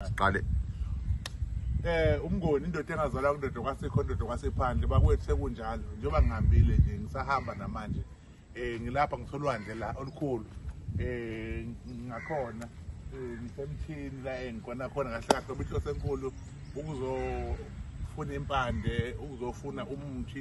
siqale eh umngoni indoda engazalwa kundoda kwasekho indoda kwasephandle bakwethu sekunjalo njengoba ngihambile nje ngisahamba namanje eh ngilapha ngisolwandle la olukhulu eh ngakhona eh, ngisemthini la engikona khona kahle kahle obihlo senkulu ukuzofuna impande ukuzofuna umuthi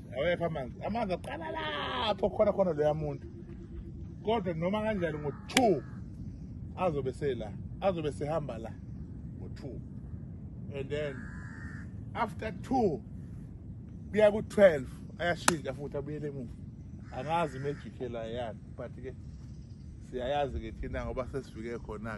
awekho amanzi amanzi aqala lapho khona khona loya muntu kodwa noma kanjani ngo-two azobe sela azobe sehamba la ngo-two and then after two kuya ku-twelve ayashintsha futhi abuyele emuva angazi imejikhe la yani but-ke siyayazi-ke thina ngoba sesifike khona-ke